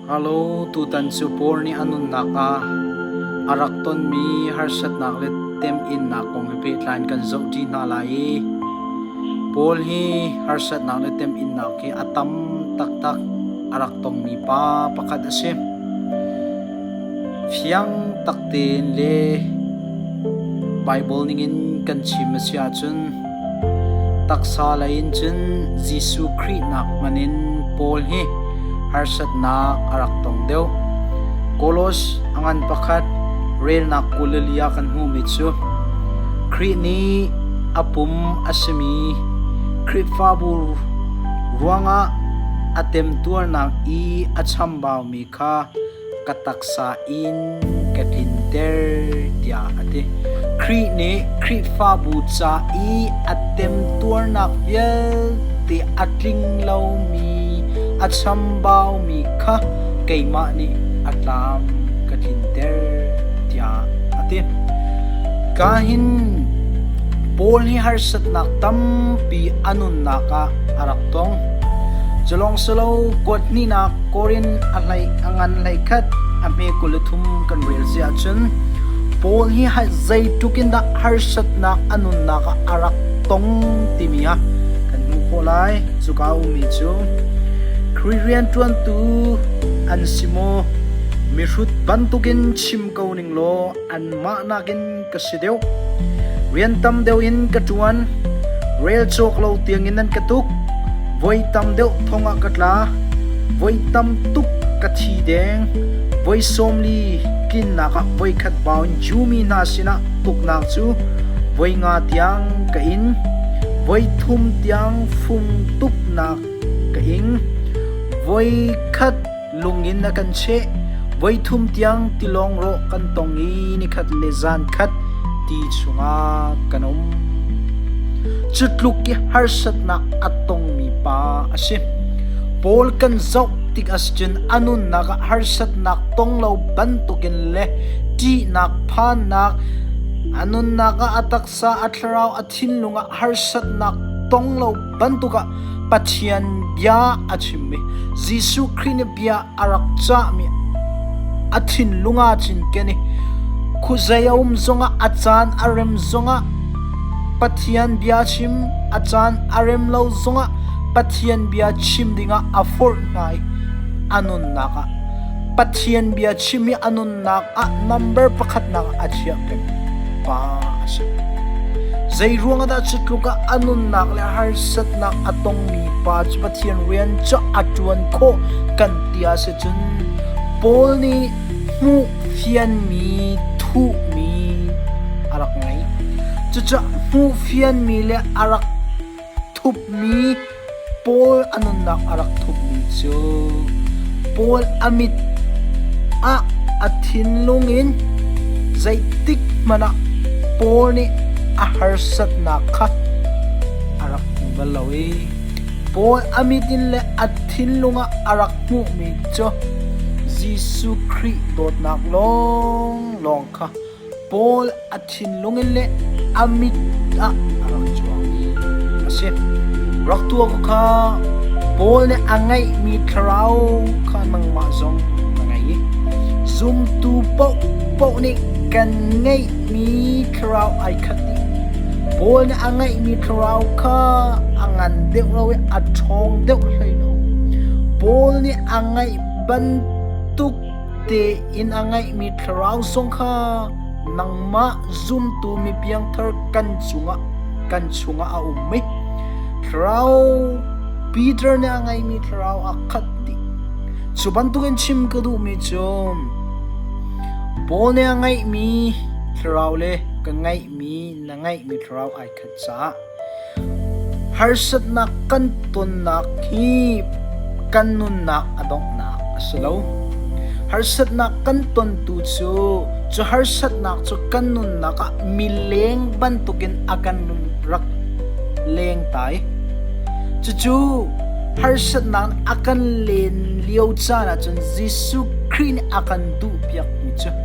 Halo, tutan cu Paul nih a nunnak ah a rak tonmi harsatnak le temhinnak kong he pehtlai in kan zohṭi hna lai i Paul hi harsatnak le temhinnak hi a tam taktak a rak tongmi pa pakhat a si. Fiang tak tein le Baibal ningin kan chim a si ahcun Taksa lei in cun Jesuh Khrih nak hmanh in Paul hi harsatnak a rak tong deuh. Kolos a ngan pakhat relnak Galilee ah kan hmuhmi cu Khrih nih a pum a simi Khrihfabu ruangah a temtuarnak i a chambaumi kha ka taksa in ka tlinter tiah a ti. Khrih nih Khrihfabu ca i a temtuarnak vialte a tling lomi, a chambaumi kha keimah nih a tlam ka tlinter tiah a ti. Ka hin Paul hi harsatnak tampi a nunnak ah a rak tong. Culawngselo kuat hnihnak Korin a hlei a ngan hleikhat a hme kul le thum kan rel si ahcun Paul hi hai zeitluk in dah harsatnak a nunnak ah a rak tong timi ah kan hmuh khawh lai. Cuka ummi cu Khrih rianṭuantu an si maw? Mihrut bantukin chim ko ning law anmah nakin ka si deuh. Rian tam deuh in ka ṭuan. Rel cawk lo tiangin an ka tuk. Voi tam deuh thong ah ka tla. Voi tam tuk ka thi deng. Voi sawmli tlinnak ah voikhat bau in jumi hna sinah tuknak cu voi nga tiang ka in. Voi thum tiang fung tuknak ka ing. Voi khat Lung in a kan cheh. Voithum tiang tilawng rawh kan tong i nikhat le zan khat ti chungah kan um. Cutluk i harsatnak a tongmi pa a si. Paul kan zoh tik ascun a nunnak ah harsatnak tong lo bantukin le ṭihnak phannak a nunnak ah a taksa Sa a thlarau a thinlung ah harsatnak tong lo bantuk ah Pathian bia a chimmi Jesuh Khrih nih bia a rak cahmi a thinlung ah cun ken i khuzei a um zongah a caan a rem zongah Pathian bia chim a caan a rem lo zongah Pathian bia chim dingah a forh hna i a nunnak ah Pathian bia chim hi a nun umnak ah number pakhatnak a thiah tuk pa a si. Zeiruang dah cu tluk ah a nunnak le harsatnak a tongmi pa cu Pathian rian cu a ṭuan khawh kan ti ah si cun Paul nih hmuh fianmi thuhmi a rak ngei. Cucu hmuh fianmi le a rak Thupmi Paul a nunnak a rak thupmi cu Paul a mit ah a thinlung in zeitik hmanh ah Paul nih a harsatnak kha a rak hmu bal lo i Paul a mit in le a thinlung ah a rak hmuhmi cu Jesuh Khrih dawtnak lawnglawng kha Paul a thinlung in le a mit ah a rak cuangmi a si. Rak tuah khawh kha Paul nih a ngeihmi thlarau kha nangmah zong na ngei i zumtu paohpaoh nih kan ngeihmi thlarau ai khat dih. Paul nih a ngeihmi thlarau kha a ngan deuh lo i a ṭhawng deuh hlei lo. Paul nih a ngeih bantuk tein a ngeihmi thlarau sung kha nangmah zumtu mi piangthar kan cungah kan chungah a um i thlarau Peter nih a ngeimi thlarau a khat dih cu bantukin chim ka duhmi cu Paul nih a ngeihmi thlarau le ka ngeihmi na ngeihmi thlarau ai khat Harsatnak kan tonnak hi kan nunnak a donghnak a si lo. Harsatnak kan tontu cu cu harsatnak cu kan nunnak ah mileng bantukin a kan nun rak leng tai. Cucu harsatnak a kan len lio caan ahcun Jesuh Khrih nih a kan duhpiakmi cu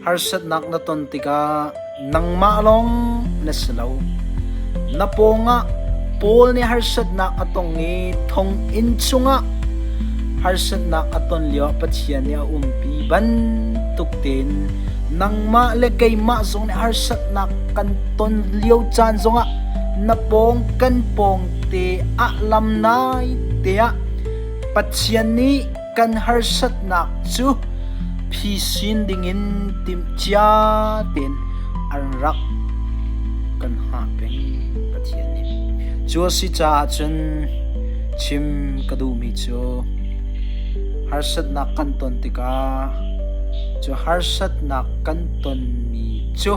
Harsatnak na ton tikah nangmah lawng na si lo. Na pawngah Paul nih harsatnak a tong i thonginn chungah harsatnak a ton lioah Pathian nih a umpi bantuk tein nangmah le keimah zong nih harsatnak kan ton lio caan zongah na pawng kan pawng te ah lam nai tiah Pathian nih kan harsatnak cu phi sin dingin timhcia tein an rak kan hngah peng Pathian nih cu a si caah cun chim ka duhmi cu harsatnak kan ton tikah cu harsatnak kan tonmi cu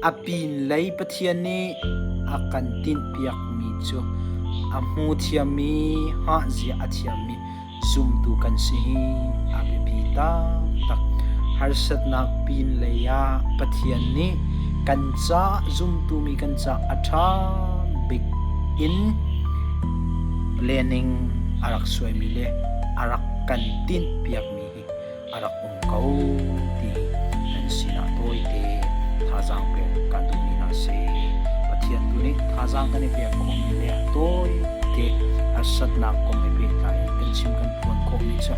A pinlei Pathian nih a kan tinhpiakmi cu a hmu thiammi, hngahzia a thiammi zumtu kan si hi a biapi taktak. Harsatnak pinlei ah Pathian nih kan caah zumtumi kan caah a ṭha bik in planning a rak suaimi le a rak kan tinhpiakmi hi a rak um ko ti nan sinah tawite thazaang pek kan duh mi hna si. Pathian tu nih thazaang kan i pek khawh mi le tawite harsatnak kong i pehtlai kan chim kan phuan khawh mi cu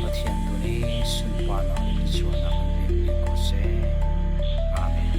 Pathian tu nih sunparnak le sualnak kan pek mi ko seh. Amen.